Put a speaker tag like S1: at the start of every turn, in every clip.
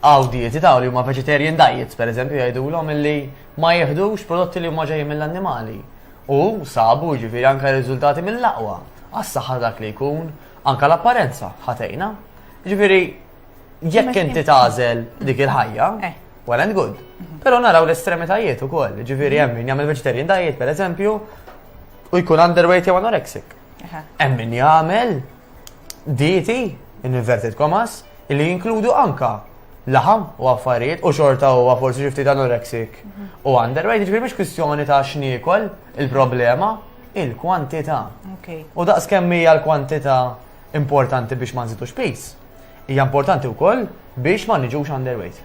S1: Hawn dieti ta' li huma vegetarian diets, pereżempju, jgħidulhom illi ma jieħdux prodotti li huma ġejjin mill-annimali. U sabu, jiġifieri, anke riżultati mill-aqwa għas-saħħa ta' dak li jkun, anke l-apparenza ħa tgħinha. Jiġifieri, jekk inti tagħżel dik il-ħajja, eh. well and good. Mhm. Però naraw l-estremitajiet ukoll, jiġifieri hemm min jagħmel vegetarian diet, pereżempju, u jkun underweight jew anorexic. Hemm min jagħmel dieti, in inverted commas, li jinkludu anka laħam u affarijiet u xorta huwa forsi xi ftit anoreksik u underweight, ġifieri mhix kwistjoni ta' x'niekol il-problema il-kwantità. U daqs kemm hija l-kwantità importanti biex ma nżidux pis, hija importanti wkoll biex ma niġux underweight.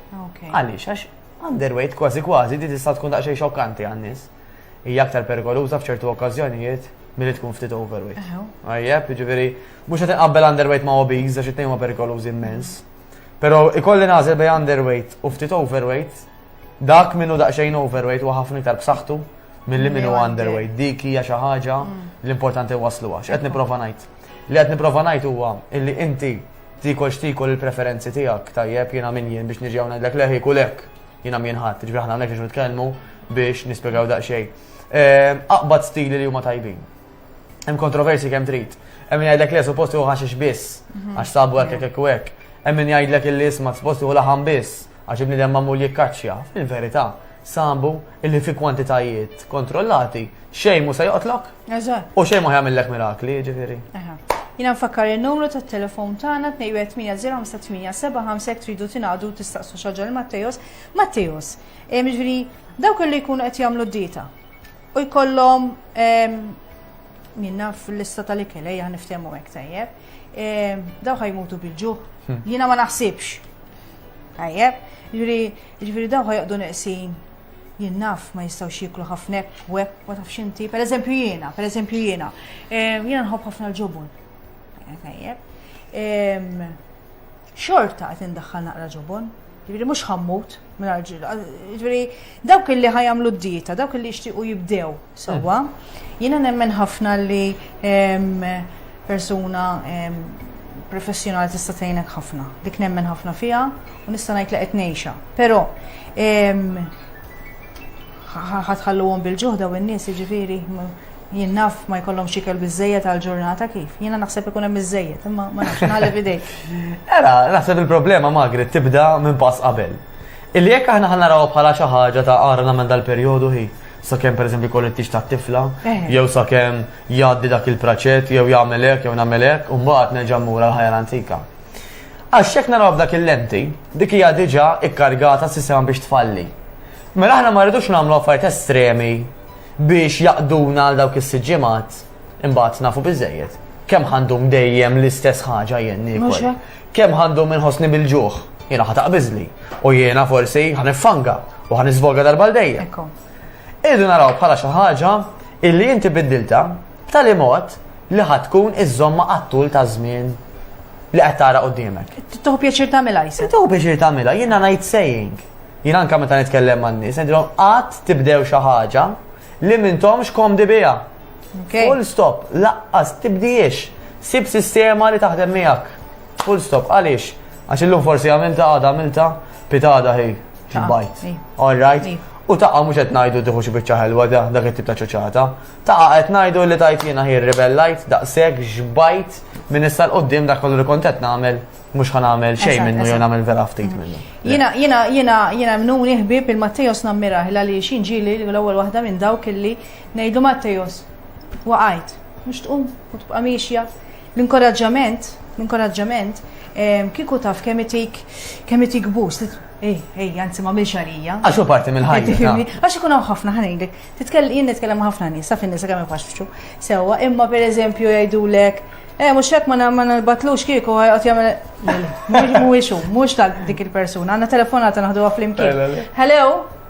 S1: Għaliex għax underweight kważi kważi di tista' tkun daqsxejn xokkanti għan-nies. hija aktar perikoluża f'ċertu okkażjonijiet milli tkun ftit overweight. Għajjeb, ġifieri mhux qed inqabbel underweight ma' obese għax it-tnejn ma' perikolużi immens. Però ikolli nażel bej underweight u ftit overweight, dak minnu daqsxejn overweight u ħafna iktar b'saħħtu milli minnu underweight. Dik hija xi ħaġa mm. l-importanti waslu għax qed nipprova ngħid. Li qed nipprova ngħid huwa illi inti tikol xtikol il-preferenzi tiegħek tajjeb jiena min jien biex niġi hawn ngħidlek leħi kulek. Jiena minn ħadd, ġifieri aħna hawnhekk biex nitkellmu biex nispjegaw daqsxejn. Ehm, aqbad stili li huma tajbin. Hemm kontroversi kemm trid. Hemm jgħidlek le suppost hu ħaxix biss, mhm. għax sabu hekk hekk hekk hekk. Hemm min jgħidlek illi isma' suppost hu laħam biss, għax ibniedem magħmul jikkaċċja. Fil-verità, sabu illi fi kwantitajiet kontrollati xejn mu se joqtlok Eżatt. U xejn ma jagħmillek mirakli, jiġifieri. Jina nfakkar
S2: il-numru ta' telefon tagħna 218-057 tridu tingħadu tistaqsu xaġa l Mattejos. Mattejos, eh, jiġifieri dawk li jkunu qed jagħmlu d-dieta u jkollhom ehm, minna fil-lista tal-ikel ejja niftehmu hekk tajjeb. Ehm, daw ħajmutu bil-ġuħ. Hmm. Jiena ma naħsibx. Tajjeb, jiġifieri, jiġifieri daw ħajqdu neqsin Jien naf ma jistgħux jieklu ħafna hekk u hekk ma tafx inti. Pereżempju jiena, pereżempju jiena. Ehm, jiena nħobb ħafna l-ġobon. Tajjeb. Ehm, xorta qed indaħħal naqra ġobon. Ġifieri mhux ħammut mingħajr ġil. Ġifieri dawk li ħajamlu d-dieta, dawk li jixtiequ jibdew Sewwa, jiena nemmen ħafna li persuna professjonali tista' tgħinek ħafna. Dik nemmen ħafna fiha u nista' ngħid li qed ngħixha. Però ħatħalluhom bil-ġuħda u n-nies jiġifieri jien naf ma jkollhom xikel biżejjed għal ġurnata kif. Jiena naħseb ikun hemm biżejjed, imma ma nafx nagħleb idejk. Era,
S1: naħseb il-problema magri tibda minn pass qabel. Illi jekk aħna ħanaraw bħala xi ħaġa ta' għara nagħmel dal-perjodu hi. sakemm pereżempju jkollu t-tix tat-tifla, eh. jew sakemm jgħaddi dak il-praċett, jew jagħmel hekk, jew nagħmel hekk, u mbagħad nerġa' mmur għal ħajja antika. Għax jekk naraw f'dak il-lenti, dik hija diġà ikkargata s-sistema biex tfalli. Mela aħna ma rridux nagħmlu affarijiet estremi biex jaqduna għal dawk is-siġġimat imbagħad nafu biżejjed. Kemm għandhom dejjem l-istess ħaġa jenni. Kemm ħa ndum inħossni bil-ġuħ, jiena ħa taqbiżli, u jiena forsi ħa niffanga u ħa nisvoga darba l-dejja. Irdu naraw bħala xi ħaġa illi inti biddilta b'tali mod li ħatkun iż-żomma għattul ta' żmien li qed tara qudiemek. Tuħu pjaċir tagħmilha
S2: jisa. Tuħu pjaċir tagħmilha, jiena
S1: ngħid saying. Jien anke meta nitkellem man-nies, ngħidilhom qatt tibdew xi ħaġa li m'intomx komdi biha. Full stop, laqqas tibdiex. Sib sistema li taħdem miegħek. Full stop, għaliex? Għax illum forsi għamilta għada għamilta, pitada hi, bajt. All right? U taqa mhux qed ngħidu tieħu xi biċċa ħelwa da dak it-tip ta' ċoċata. Taqa qed ngħidu li tajt jiena hi rebellajt daqshekk xbajt minn issa l-qoddim dak kollu li kont qed nagħmel mhux ħa nagħmel xejn minnu jew nagħmel vera ftit minnu. Jiena jiena jiena
S2: jiena mnuni ħbieb il-Mattejos nammirah għaliex inġieli l-ewwel waħda minn dawk illi Ngħidlu Mattejos, waqajt, mhux tqum u tibqa' miexja. L-inkoraġġament, l-inkoraġġament ehm, kieku taf kemm itik kemm itik bus li Ej, ej, anzi ma milx għalija. Għax u parti
S1: mill-ħajja. Għax ikun hawn ħafna
S2: ħanejlek. Titkellem jien nitkellem ħafna nies, sa fin-nisa kemm ifaxxu. Sewwa, imma pereżempju jgħidulek Eh, mux hekk ma nalbatlux kieku għajqot jgħamil. Mux mux tal dik il-persuna, għanna telefonata naħdu għaflimkien. Hello?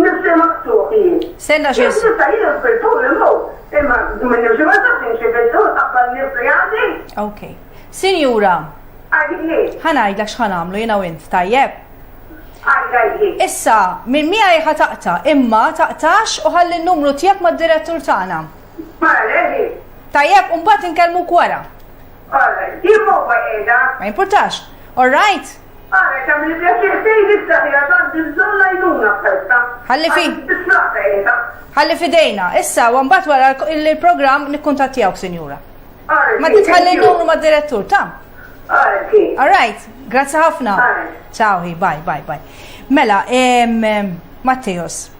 S3: Nifsi maqtuħ jien. Senna xie. Jien nista
S2: jien nfiltu
S3: l-mu. Imma minn nifsi ma taf nxie filtu l-qabbal nifsi għadi. Ok.
S2: Sinjura.
S3: Għadini. Ħanajdlek xħan
S2: għamlu jina u int, tajjeb?
S3: Issa,
S2: minn mija jħa taqta, imma taqtax u ħalli n-numru tijak ma d-direttur tagħna.
S3: Tajjeb, un bat
S2: nkellmu kwara.
S3: Ma importax.
S2: All right?
S3: Għalek għamil li pjaċir fejn issa fija għandi
S2: bżon lajduna f'ħelta. Għalli fi.
S3: Għalli fidejna.
S2: Issa, għambat wara il-program nikkuntattijawk, sinjura. Ma
S3: titħalli n-numru
S2: ma' direttur, ta'
S3: All right, grazzi
S2: ħafna. Ciao,
S3: bye, bye,
S2: bye. Mela, Matteos,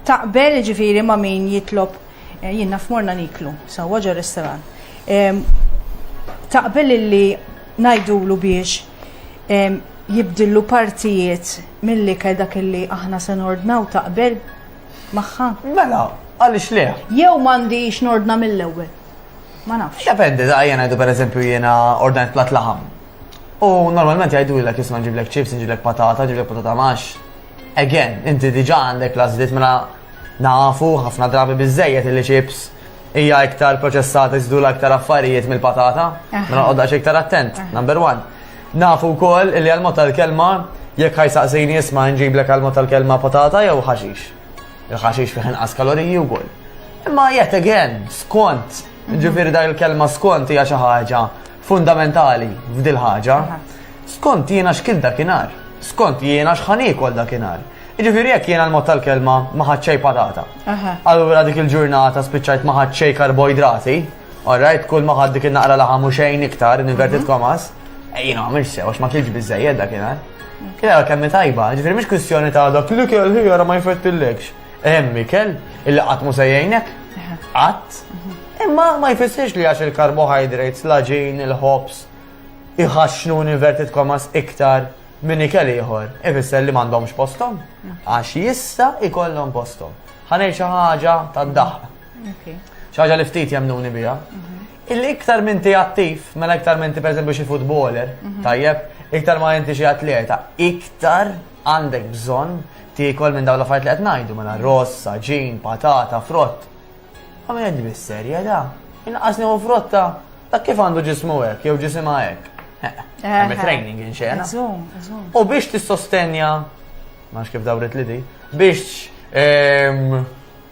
S2: taqbel ġifiri ma' min jitlob eh, jien naf morna niklu, sawa ġo restaurant. Taqbel li ngħidulu biex jibdillu partijiet mill-ikel dak illi aħna se nordnaw taqbel magħha? Mela,
S1: għaliex le? Jew m'għandix
S2: nordna mill-ewwel. Ma nafx. Dependi, da jena jdu per
S1: eżempju jena ordnajt plat laħam. U normalment jgħidu l-ek jisma ġiblek ċips, ġiblek patata, ġiblek patata max. Again, inti diġa għandek lażlit mela nafu ħafna drabi bizzejet li ċips Hija iktar proċessata jżidula iktar affarijiet mill-patata, ma noqgħodx iktar attent, number one. Nafu wkoll li għal-mod tal-kelma jekk ħajsaqsini isma' nġiblek għal-mod tal-kelma patata jew ħaxix. Il-ħaxix fih inqas kaloriji wkoll. Imma yet again, skont, ġifieri dak il-kelma skont hija xi ħaġa fundamentali f'dil ħaġa, skont jiena x'kil dakinhar, skont jiena x'ħan iekol dakinhar. Jiġifieri jekk jiena l-mod tal-kelma ma ħadd xejn patata. Allura dik il-ġurnata spiċċajt ma ħadd xejn karboidrati, alright, kull ma ħadd dik il-naqra laħam u xejn iktar, inverted mhm. komas, e jiena ma mhix sew għax ma kilx biżejjed dakinhar. Kien kemm tajba, ġifieri mhix kwistjoni ta' dak li kelli ma jfettillekx. Hemm ikel illi qatt mhu se jgħinek, qatt. Imma ma jfissirx li għax il-karbohydrates, l-aġin, il-ħobs, iħaxxnu inverted commas iktar minn ikel ieħor, ifisser li m'għandhomx posthom. Għax jista' ikollhom posthom. Ħanej xi ħaġa tad-daħq. Xi ħaġa li ftit jemnuni biha. Mhm. Illi iktar minn ti attiv, mela iktar minn ti pereżempju xi futboler, mhm. tajjeb, iktar ma inti xi atleta, iktar Għandek bżonn tiekol minn dawn l-affarijiet li qed ngħidu mela ross, saġin, patata, frott. Ma qed bis-serja da. Inqas nieħu frotta ta' kif għandu ġismu hekk jew ġisimha hekk. Hemm training inxena. U biex tissostenja, ma kif dawret li di, biex ehm,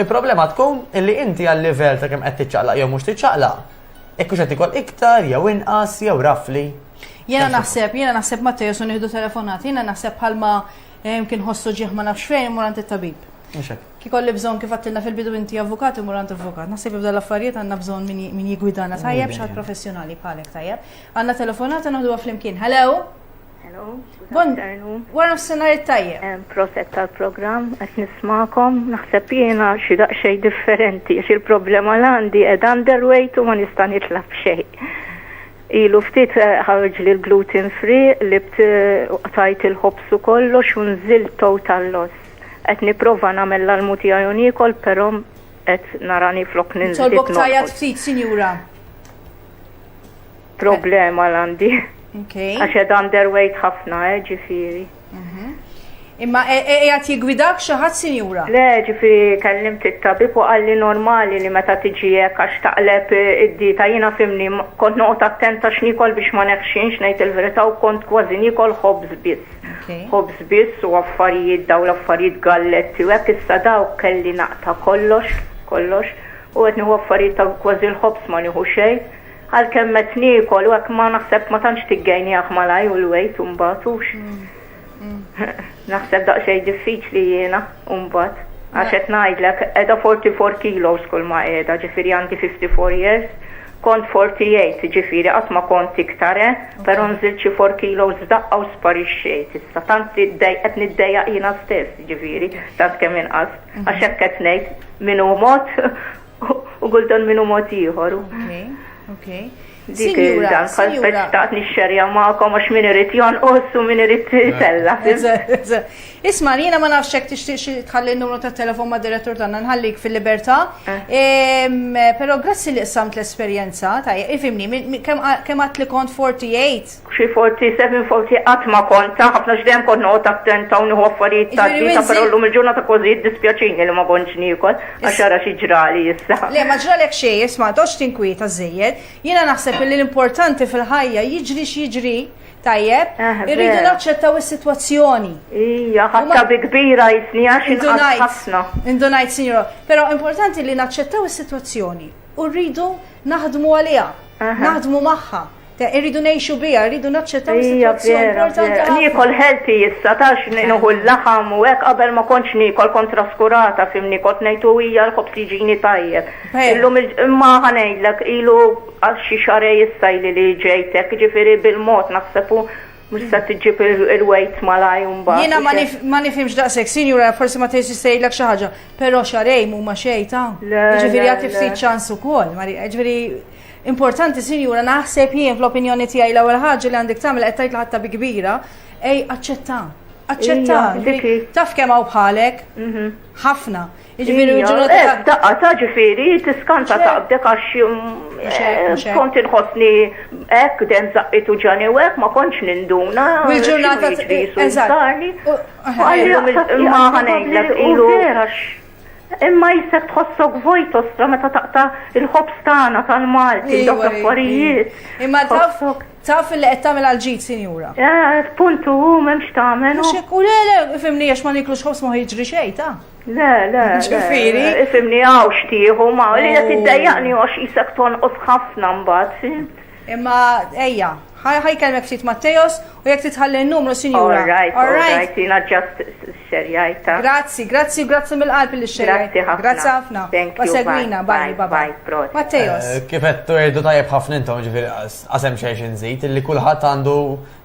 S1: Il-problema tkun illi inti għal-livell ta' kemm qed tiċċaqlaq jew mhux tiċċaqlaq, jekk hux qed ikol iktar jew inqas jew rafli. Jiena naħseb,
S2: jiena naħseb ma tejesu nieħdu telefonat, jiena naħseb bħalma eh, kien ħossu ġieħ ma nafx fejn imur għand it-tabib. Kikolli bżon kif għattilna fil-bidu inti avukat imur għand avukat. Naħseb jibda l-affarijiet għandna bżon min jigwidana tajjeb xaħat professjonali bħalek tajjeb. Għandna telefonat għandu għaflimkien. Hello?
S4: Hello, Bon, wara nofsinhar it-tajjeb.
S2: Proset tal-programm,
S4: qed nismakom, naħseb jiena xi daqsxejn differenti, xi l-problema l għandi qed underweight u ma nista' nitla' b'xejn. Ilu ftit eh, ħarġ li l-gluten free li tajt il-ħobs u kollox u nżil total loss. Qed nipprova nagħmel l-almu tiegħi u niekol, però qed narani flok ninżil. Tolbok tajjat ftit,
S2: sinjura.
S4: Problema l-għandi. Okay. Għax ed
S2: underweight
S4: ħafna, eh, ġifiri. Mhm.
S2: Imma e- e- e- għat jigwidak xaħat sinjura? Le, ġifi
S4: kellim t-tabib u għalli normali li meta tiġijek għax taqleb id-dita jina fimni kont noqt attenta xnikol biex ma neħxinx nejt il-verita u kont kważi nikol ħobz biss. Ħobz biss u affarijiet daw l-affarijiet galletti u għek issa daw kelli naqta kollox, kollox u għetni u affarijiet ta' kważi l-ħobz ma niħu xejn Għalkemm qed niekol u hekk ma naħseb ma tantx tiggejnieh malajr u l-wejt imbagħad hux. Naħseb daqsxejn diffiċli jiena imbagħad. Għax qed ngħidlek qiegħda 44 kilos kull ma qiegħda, ġifieri għandi 54 years, kont 48 ġifieri qatt ma kont iktar eh, però nżilt xi 4 kilos f'daqqa u sparixxejt issa. Tant li ddej- qed niddejjaq jiena stess ġifieri, tant kemm inqast. Għax hekk qed ngħid min hu mod U kultant minnu mod ieħor. Okej,
S2: okej. Dik
S4: il-dan, bħal speċtaqt nixxerja ma'kom għax min irid jonqos u min irid tella.
S2: Isma, jiena ma nafx hekk tixtieq tħalli n-numru ta' telefon ma' direttur tagħna nħallik fil-libertà. Eh. Però grazzi li qsamt l-esperjenza ta' ifimni kemm għad li kont 48. Xi 47 forsi
S4: qatt ma kont ta' ħafna għax dejjem kont noqgħod attenta u nieħu affarijiet ta' dieta però llum il-ġurnata kważi jiddispjaċini li ma kontx niekol għax ara xi ġrali issa. Le ma ġralek xejn
S2: isma' ma toqgħodx tinkwieta żżejjed. Jiena naħseb illi l-importanti fil-ħajja jiġri x'jiġri, tajjeb, irridu naċċettaw is-sitwazzjoni. Ija, ħadtha
S4: bi kbira jisni għax inqatt ħafna. Indunajt sinjura,
S2: però importanti li naċċettaw is-sitwazzjoni u rridu naħdmu għaliha, naħdmu magħha. Ta' irridu nejxu bija, irridu naċċettaw is-sitwazzjoni importanti ħafna. Nikol healthy
S4: issa tax ninuħu l-laħam u hekk qabel ma kontx nikol kont traskurata fimni kont ngħidu hija l-ħobż jiġini tajjeb. Illum imma ħanejdlek ilu għal xi xarej issa li li ġejtek, ġifieri bil-mod naħseb mhux se tiġib il-wejt malaj mbagħad. Jiena ma nifhimx
S2: daqshekk, sinjura forsi ma tgħidx jistgħidlek xi ħaġa, però xarej mhuma xejn ta'. Ġifieri għad tifsit ċans ukoll, ġifieri Importanti sinjura naħseb jien fl-opinjoni tiegħi l-ewwel ħaġa li għandek tagħmel qed tgħid l-ħatta bi kbira, ej aċċetta. Aċċetta. Taf kemm hawn bħalek? Mhm. Ħafna. Jiġifieri ġurnata. Eh, daqqa ta'
S4: ġifieri tiskanta taqbdek għax eh, kont inħossni hekk den zaqqitu ġani u hekk ma kontx ninduna. Il-ġurnata.
S2: Eżatt.
S4: Ma ħanejlek ilu. Imma jissek tħossok vojt ostra meta taqta il-ħobs tagħna tal-Malti, dawk l-affarijiet. Imma taf
S2: taf li qed tagħmel għal ġid, sinjura. Eh, puntu hu
S4: m'hemmx tagħmel. Mhux hekk u le le,
S2: ifimni għax ma niklux ħobs ma jiġri xejn ta'. Le, le.
S4: Ġifieri.
S2: Ifimni hawn
S4: xtieħu ma li qed iddejjaqni għax isek tonqos ħafna mbagħad. Imma
S2: ejja, ħa ħa jkellmek ftit Mattejos u jekk titħalli n-numru sinjura. All right, all right, jiena
S4: ġast xerjajt ta. Grazzi, grazzi u
S2: grazzi mill-qalb li xerjajt. Grazzi ħafna. Grazzi ħafna. Thank you. Segwina, bye, bye, bye. Prost. Mattejos. Kif qed tuerdu
S1: tajjeb ħafna intom ġifieri qasem xejn xi nżid illi kulħadd għandu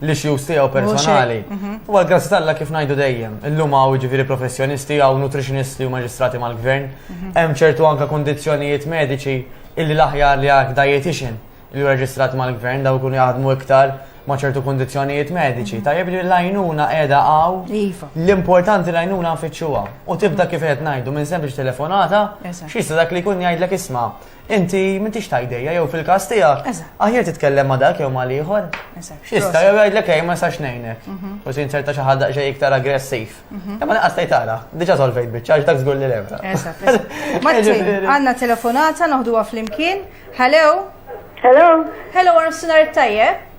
S1: l-issues tiegħu personali. Mhm. U għal grazzi talla kif ngħidu dejjem, illum hawn ġifieri professjonisti hawn nutritionist u maġistrati mal-gvern, mhm. hemm ċertu anka kondizzjonijiet mediċi illi l-aħjar li għak dietitian li reġistrat mal-gvern daw kun jaħdmu iktar ma' ċertu kondizjonijiet mediċi. Mhm. Tajjeb li l-għajnuna edha għaw. Iva. L-importanti l-għajnuna nfittxuha. U tibda kif qed ngħidu minn sempliċi telefonata, xista dak li jkun jgħidlek isma' Inti m'intix ta' idejja jew fil-każ tiegħek, aħjar titkellem ma' dak jew ma' l-ieħor. Jista' jew jgħidlek ej ma nistax ngħinek. U se jinserta xi ħadd daqsxejn iktar aggressiv. Imma lanqas tgħid ara, diġà solvejt biċċa għax dak żgur li levra. Martin,
S2: għandna telefonata noħduha flimkien. Hello? Hello? Hello,
S3: għal nofsinhar it-tajjeb.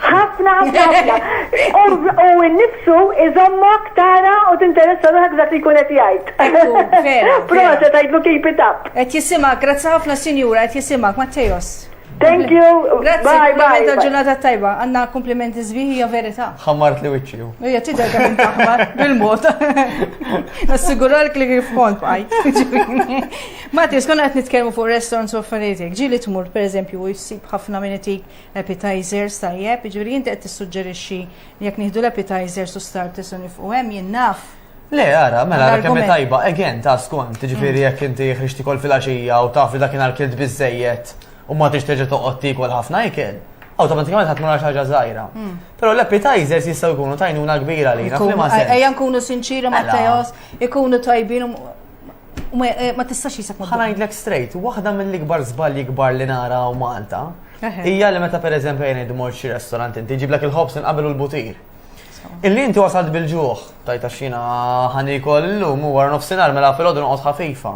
S3: Ħafna, ħafna, ħafna. U n-nifsu iżommok tara u tinteressa ruħak dak li kunet jgħid. Proċa tajdlu keep it up. Et jisimak, grazzi
S2: ħafna sinjura, et jisimak, Mattejos. Thank you.
S3: Grazie. Bye, bye.
S2: Grazzi, ġurnata tajba. Għanna komplimenti zbiħi, ja verita. Xammart li wicċi.
S1: Ija, tida għan taħmar,
S2: bil-mod. Nassigurar li kif kont bħaj. Mati, skonna għet nitkelmu fuq restaurants u affarijiet. Ġili tmur, per eżempju, u jisib ħafna minnetik Appetizers, tajjeb, jiġifieri inti qed tissuġġerixxi li jekk nieħdu l-appetizers u starters u nifqu hemm jien naf. Le, ara, mela
S1: ara kemm tajba, again ta' skont, jiġifieri jekk inti ħriġti kol fil-għaxija u taf li dakinhar kilt biżejjed u ma tix terġa' toqgħod tiekol ħafna ikel automatikament ħadd mara ħaġa żgħira. Hmm. Però l-appetizers jistgħu jkunu tajnuna kbira li. Ejja nkunu sinċiri ma'
S2: Teos, ikunu tajbin Ma tistax jisek ma. Ħanajdlek straight, waħda
S1: mill-ikbar żbalji kbar li nara u Malta hija li meta pereżempju jien idmor xi restorant inti ġiblek il-ħobs inqabel u l-butir. Illi inti wasalt bil-ġuħ, tajta xina ħanikol illum u wara nofsinhar mela fil-għodu noqgħod ħafifa.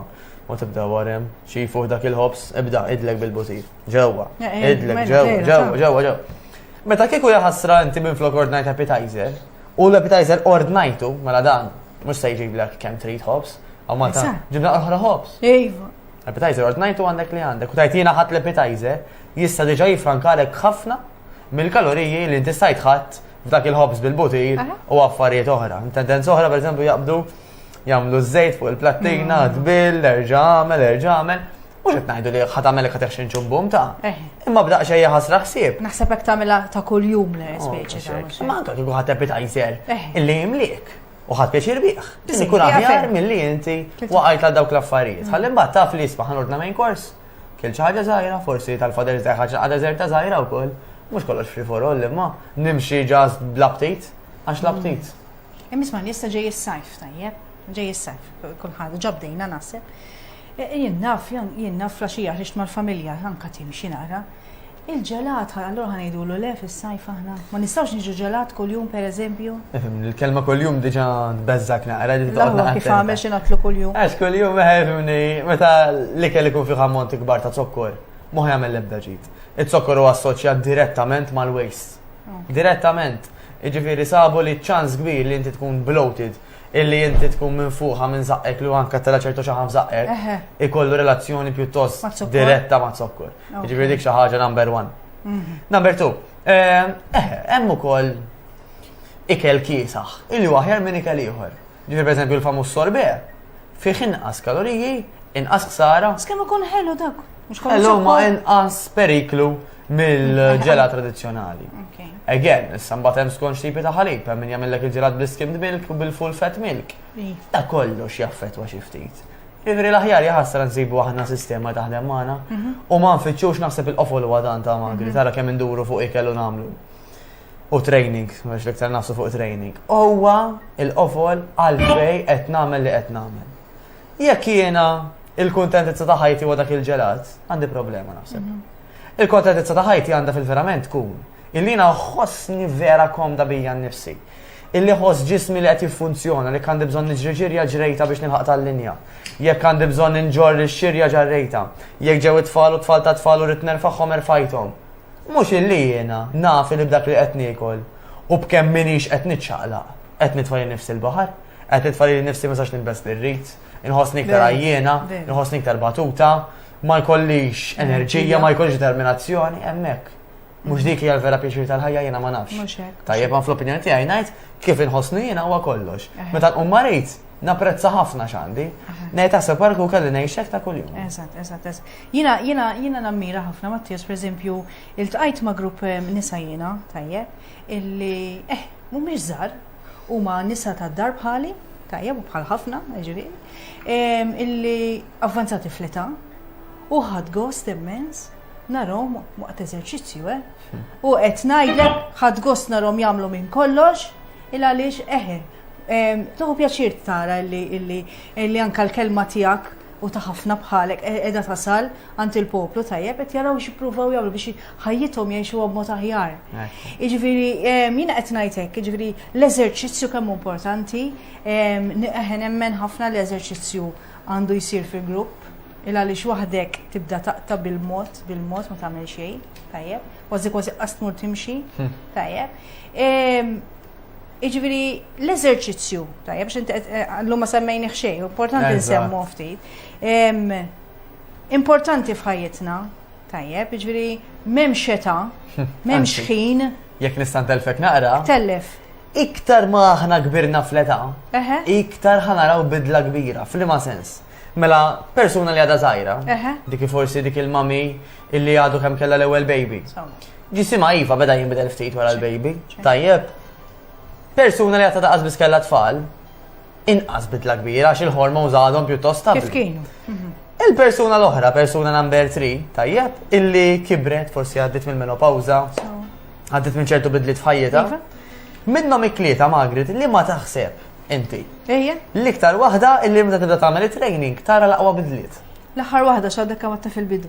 S1: U tibda warem, xi fuq dak il-ħobs, ibda idlek bil-butir. Ġewwa, idlek ġewwa, ġewwa, ġewwa, ġewwa. Meta kieku jaħasra inti minn flok ordnajt appetizer, U l-appetizer ordnajtu, mela dan, mhux se jġiblek kemm trid ħobs. Aw Malta, Eżatt. ġibna oħra ħobs. Iva.
S2: Appetizer ordnajtu
S1: għandek li għandek. U tajt jiena ħadd l-appetizer, jista' diġà jifrankalek ħafna mill-kaloriji li inti stajt ħadd f'dak il-ħobs bil-butir Aha. u affarijiet oħra. Tendenza oħra, pereżempju, jaqbdu jagħmlu ż-żejt fuq il-plattina, mm. tbil, erġa' għamel, erġa' għamel. Mhux qed ngħidu li ħadd għamel qed eħxin ċumbum ta'. Eh. Imma b'daq xejn ħasra ħsieb. Naħseb hekk tagħmilha ta'
S2: kuljum le oh, speċi ta' Imma anke kieku ħadd appetizer
S1: eh. illi jimliek u ħadd pjaċir bih. Biss ikun aħjar
S2: milli
S1: inti waqajt għal dawk l-affarijiet. Mm. Ħalli mbagħad taf li jisbaħ ordna main kors. Kiel xi ħaġa żgħira, forsi tal-fader ta' ħaġa għadha żerta żgħira wkoll. Mhux kollox free for all imma nimxi ġast bl-aptit għax l-aptit. Mm. Imma isma' jista'
S2: ġej is-sajf tajjeb, ġej is-sajf, kulħadd ġabdejna naħseb. E, e, jien naf, jien naf flaxija ħriġt mal-familja anka timxi nara. Il-ġelat, allura ħanejdulu le fis-sajf aħna. Ma nistgħux niġu ġelat kuljum pereżempju. Ifhem, il-kelma kuljum
S1: diġà tbeżżak naqra li taqgħod Kif għamel xi nagħtlu
S2: kuljum. Għax kuljum ifhimni,
S1: eh, meta l-ikel ikun fih ammont ikbar ta' zokkor, mhux jagħmel l-ebda ġid. Iz-zokkor huwa assoċjat direttament mal-waste. Direttament. Iġifiri sabu li ċans kbir li inti tkun bloated illi inti tkun minn fuqa minn zaqqek li għanka tela ċertu xaħan f'zaqqek, ikollu relazzjoni pjuttost diretta ma'
S2: zokkur.
S1: Ġifiri dik xaħġa number one. Mhm. Number two, eh, eh, hemm ukoll ikel kiesaħ, illi waħjar minn ikel ieħor. Ġifieri pereżempju l-famuż sorbet fih inqas kaloriji, inqas ħsara. Skemm ikun ħelu dak.
S2: Ħelu ma inqas
S1: periklu mill-ġela tradizzjonali. Again,
S2: issa mbagħad
S1: hemm skont tipi ta' ħalib, hemm min jagħmellek il-ġelat bl-skimmed milk u bil-full fat milk. Ta' kollox jaffettwa xi ftit. Ivri l-aħjar jaħasra nsibu aħna sistema taħdem magħna mhm. u ma nfittxux naħseb il-qofol huwa dan ta' magri, mhm. tara kemm induru fuq ikel u nagħmlu. u training, mhux l-iktar nafsu fuq training, huwa il-qofol għalfej qed nagħmel li qed nagħmel. Jekk jiena il-kuntentizza ta' ħajti huwa dak il-ġelat, għandi problema naħseb. Mhm. Il-kontentizza ta' ħajti għandha fil-verament tkun illi ħossni vera komda bija nnifsi. Illi ħoss ġismi li qed jiffunzjona li għandi bżonn niġri ġirja ġrejta biex nilħaq tal-linja. Jekk għandi bżonn inġorri x-xirja ġarrejta. Jekk ġew it-tfal u tfal ta' tfal u rid nerfagħhom erfajthom. Mhux illi jiena naf li b'dak li qed niekol u b'kemm m'iniex qed niċċaqlaq, qed nitfa' lil nifsi l-baħar, qed nitfa' lili nnifsi ma nistax nilbes li rrid, inħossni iktar għajjiena, inħossni iktar batuta, ma jkollix enerġija, ma jkollix determinazzjoni, hemmhekk. Mhux dik hija l-vera pjaċir tal-ħajja jiena ma nafx. Tajjeb ma fl-opinjoni
S2: tiegħi
S1: ngħid kif inħossni jiena huwa kollox. Meta nqum marid, napprezza ħafna x'għandi. Ngħid taħseb għarku kelli ngħixek ta' kuljum. Eżatt, eżatt, eżatt.
S2: Jiena jiena jiena nammira ħafna Mattias pereżempju iltqajt ma' grupp ehm, nisa jiena tajjeb illi eh mhumiex żgħar huma nisa tad-dar bħali tajjeb u bħal ħafna ġifieri ehm, illi avvanzati fl-età u ħadd gost immens narhom waqt eżerċizzju eh. U qed ngħidlek ħadd gost narhom jagħmlu minn kollox il għaliex eħe. ehm, Toħu pjaċir tara illi illi illi anka l-kelma tiegħek u ta' ħafna bħalek qiegħda tasal għand il-poplu tajjeb qed jaraw x'ippruvaw jagħmlu biex ħajjithom jgħixuha b'mod aħjar. Jiġifieri jiena qed ngħid hekk, jiġifieri l-eżerċizzju kemm importanti, eħen nemmen ħafna l-eżerċizzju għandu jsir fil-grupp, il għaliex waħdek tibda taqta bil-mod, bil-mod ma tagħmel xejn, tajjeb, kważi kważi qas tmur timxi, hmm. tajjeb. Iġviri, l-eżerċizzju, tajjeb, xint eh, eh, l-lum ma semmejni xej, importanti nsemmu ftit. Importanti fħajitna, tajjeb, iġviri, mem xeta, mem xħin. Jek nistan telfek
S1: naqra. Tellef.
S2: Iktar ma
S1: ħna kbirna fleta, iktar ħanaraw bidla kbira, fl-ma sens. Mela, persuna li għada zaħira, dik forsi dik il-mami illi għadu kem kella l-ewel baby. Ġisima iva beda jinbidel ftit wara l-baby. Tajjeb. Persuna li għatta daqas biskella tfal, inqas bidla kbira għax il-hormon zadhom pjuttost stabli. Kif kienu? Mhm.
S2: Il-persuna l-oħra,
S1: persuna number 3, tajjeb, illi kibret forsi għaddit minn menopawza, għaddit minn ċertu bidlit f'ħajjita. Iva. Minnom iklieta Margaret li ma taħseb inti. Ejja. L-iktar waħda illi meta tibda tagħmel it-training tara l-aqwa bidliet. L-aħħar waħda x'għadek
S2: kemm fil-bidu.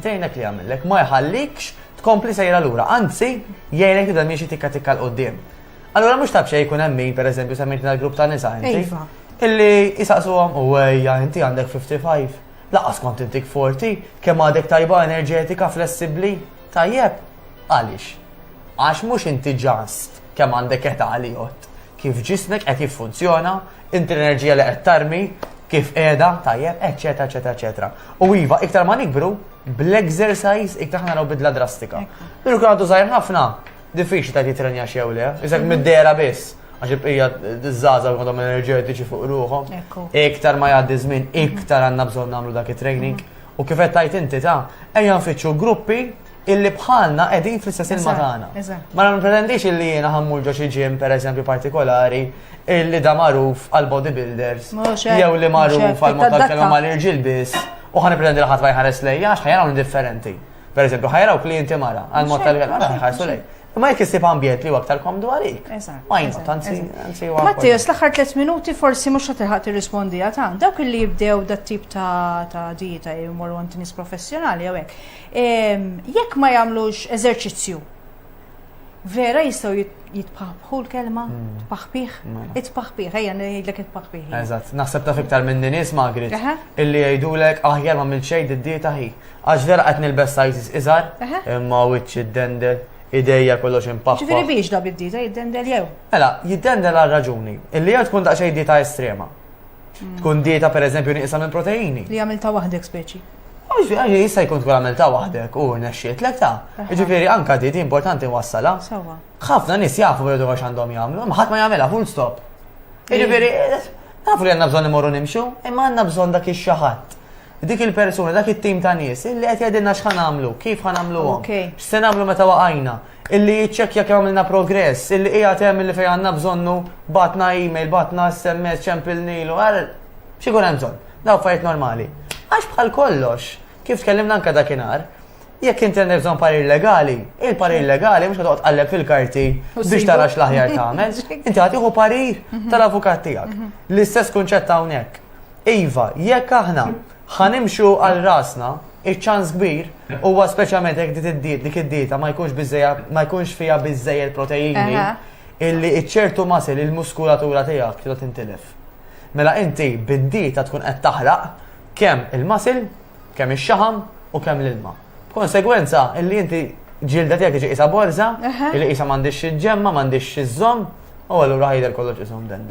S1: Tgħinek li jagħmillek, ma jħallikx tkompli sejra lura, anzi jgħinek tibda miexi tikka tikka l qudiem Allura mhux taf xejn jkun hemm min pereżempju semmejt l-grupp ta' nisa inti. Iva. Illi
S2: jisaqsuhom
S1: u ejja inti għandek 55. Laqas kont intik 40, kemm għadek tajba enerġetika, flessibbli, tajjeb. Għaliex? Għax mhux inti ġast kemm għandek età li jott. kif ġismek qed jiffunzjona, inti l-enerġija li qed tarmi, kif qiegħda, tajjeb, eċċetera, eċċetera, eċċetera. U iva, iktar ma nikbru, bl-exercise iktar ħana bidla drastika. Minu kien għadu żgħir ħafna, diffiċli ta' jitrenja xew le, iżek mhm. mid-dera biss għax il-bqija d-żaza għadhom enerġetiċi fuq ruħom. Iktar ma jgħaddi żmien, iktar għandna bżonn nagħmlu dak it-training. U kif qed tajt inti ta' ejja nfittxu gruppi illi bħalna qegħdin fl-istess ilma tagħna. Ma nipretendix illi jiena ħammur ġo xi ġim pereżempju partikolari illi da magħruf għal bodybuilders jew li magħruf għal mod tal-kelma mal-irġiel biss u ħan pretendi li ħadd ma jħares lejja għax ħajraw differenti. Pereżempju ħajraw klijenti mara għal mod tal-kelma ħarsu lej. Ma jek jisib ambjent li aktar komdu għalik. Ma jina, tanzi, tanzi. Mattias, l-axar
S2: 3 minuti forsi mux għatilħat rispondi għatan. Dawk li jibdew dat tip ta' dieta jimur għant nis professjonali għawek. Jekk ma jagħmlux eżerċizzju, vera jistgħu jitpaħbħu l-kelma, hmm. tpaħbih, mela. itpaħbih, ejja ngħidlek itpaħbih. Eżatt, naħseb taf
S1: iktar minn nies Magrit, illi jgħidulek aħjar ma mill xejn id-dieta ħi. Għax vera qed nilbes sizes iżgħar, imma wiċċ id-dendel, ideja kollox impaħħa. Ġifieri biex da bid-dieta
S2: jiddendel jew? Mela, jiddendel
S1: għal raġuni, illi jew tkun daqsxejn dieta estrema. Hmm. Tkun dieta per eżempju nieqsa minn proteini. Li għamil ta' waħdek
S2: speċi. Għaxi, jista
S1: jkun tkun għamil ta' waħdek u nexxiet lek ta' ġifiri anka dieti importanti wassala. Sawa. ħafna
S2: nis jafu
S1: bħedu għax għandhom jgħamlu, ma ħat ma jgħamela full stop. Ġifiri, nafu li għanna bżon imorru nimxu, imma għanna bżon dak ix-xaħat. Dik il-persuna, dak it-tim ta' nies, illi qed jgħidilna x'ħan għamlu, kif ħan għamlu għom, x'se nagħmlu meta waqajna, Illi jiċċekkja kemm għamilna progress, illi qiegħed hemm illi fejn għandna bżonnu bagħatna email, bagħatna SMS, ċempilnilu, għal xi jkun hemm bżonn. Daw fajt normali. Għax bħal kollox, kif tkellimna anke dakinhar, jekk inti għandek bżonn parir legali, il-parir legali mhux qed tqalleb fil-karti biex tara x'l-aħjar tagħmel, inti għad tieħu parir mhm. tal-avukat tiegħek. Mhm. L-istess kunċett hawnhekk. Iva, jekk aħna Ħa nimxu għal rasna, iċ-ċans kbir huwa speċjalment jekk dit id-diet dik id-dieta ma jkunx biżejja ma jkunx fiha biżejjed proteini Aha. illi iċ-ċertu masil il-muskulatura tiegħek trid tintilef. Mela inti bid-dieta tkun qed taħraq kemm il-masil, kemm ix-xaħam u kemm l-ilma. B'konsegwenza, illi inti ġilda tiegħek iġi qisha borża, illi qisha m'għandix xi ġemma, m'għandix xi żomm, u allura ħajder kollox isom den.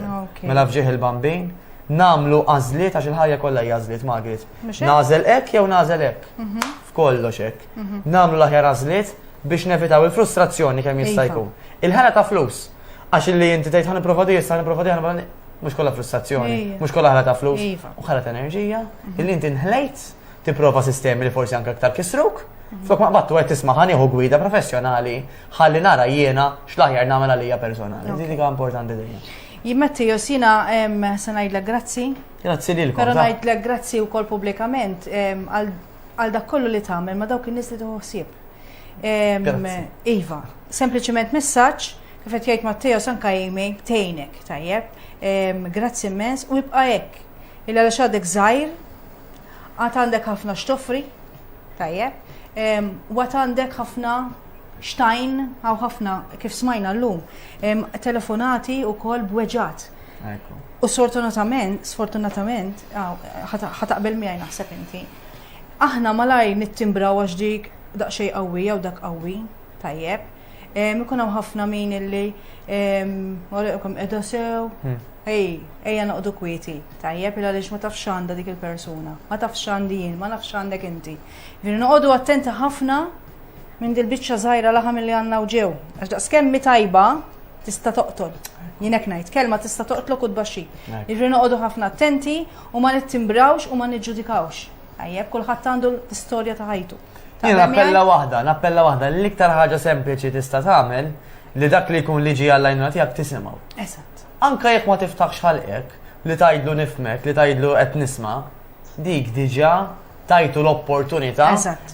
S1: Mela fġieħ il-bambin, namlu għażliet għax il-ħajja kollha hija għażliet Margaret. Nażel hekk jew nażel hekk. Mhm. F'kollox hekk. Mhm. Namlu l-aħjar għażliet biex nevitaw il-frustrazzjoni kemm jista' jkun. Il-ħela ta' flus. Għax li inti tgħid ħan nipprova di, ħan nipprova di, ħan mhux kollha frustrazzjoni, mhux kollha ħela ta' flus, u ħela ta' enerġija, mhm. illi inti nħlejt tipprova sistemi li forsi anke aktar kisruk. Mhm. Flok ma qbattu qed tisma' ħan nieħu gwida professjonali ħalli nara jiena x'laħjar nagħmel għalija personali. Din hija importanti dejjem. Jimmetti josina
S2: se ngħidlek grazzi. Grazzi lilkom. Però
S1: ngħidlek grazzi
S2: wkoll pubblikament għal dak kollu li tagħmel ma dawk in-nies li tuħsib. Iva, sempliċement messaġġ kif qed jgħid Matteo sanka jimi tejnek tajjeb. Grazzi immens u jibqa' hekk. Illa għax għadek żgħir Għad għandek ħafna x'toffri, tajjeb, u għad għandek ħafna xtajn, għaw ħafna kif smajna l-lum, telefonati u kol bweġat. U sfortunatament, sfortunatament, ħataqbel miħaj naħseb inti, aħna malaj nittimbra għax dik daqxej qawwi jew dak qawwi, tajjeb, Ikun hawn ħafna min illi għalqkom qiegħda sew. Hmm. Ej, ejja noqdu kwieti. Tajjeb il għaliex ma tafx għandha dik il-persuna, ma tafx għandi jien, ma nafx għandek inti. Veri noqogħdu attenti ħafna minn dil-biċċa żgħira laħam li għandna u ġew. Għax daqskemm mi tajba tista' toqtol. Jinek ngħid kelma tista' toqtlok u tbaxxi. Irri noqogħdu ħafna attenti u ma nittimbrawx u ma niġġudikawx. Tajjeb, kulħadd għandu l-istorja ta' ħajtu. Jien appella
S1: waħda, nappella waħda, l-iktar ħaġa sempliċi tista' tagħmel li dak li jkun liġi għall-għajnuna tiegħek tisimgħu. Eżatt. Anka
S2: jekk ma tiftaħx
S1: ħalqek, li tajdlu nifmek, li tajdlu qed nisma, dik diġa tajtu l-opportunità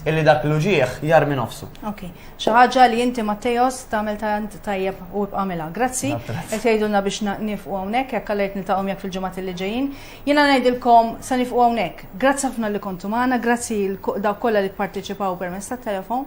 S1: illi dak
S2: l-uġieħ
S1: jar minn nofsu. Ok, xaħġa
S2: li inti Mattejos tamel tant tajjeb u bqamela. Grazzi, qed jgħidulna biex nifqu hawnhekk jekk għalajt niltaqgħu jekk fil-ġimgħat li ġejjin. Jiena ngħidilkom sa nifqu hawnhekk. Grazzi ħafna li kontu magħna, grazzi lil dawk kollha li pparteċipaw permezz tat-telefown.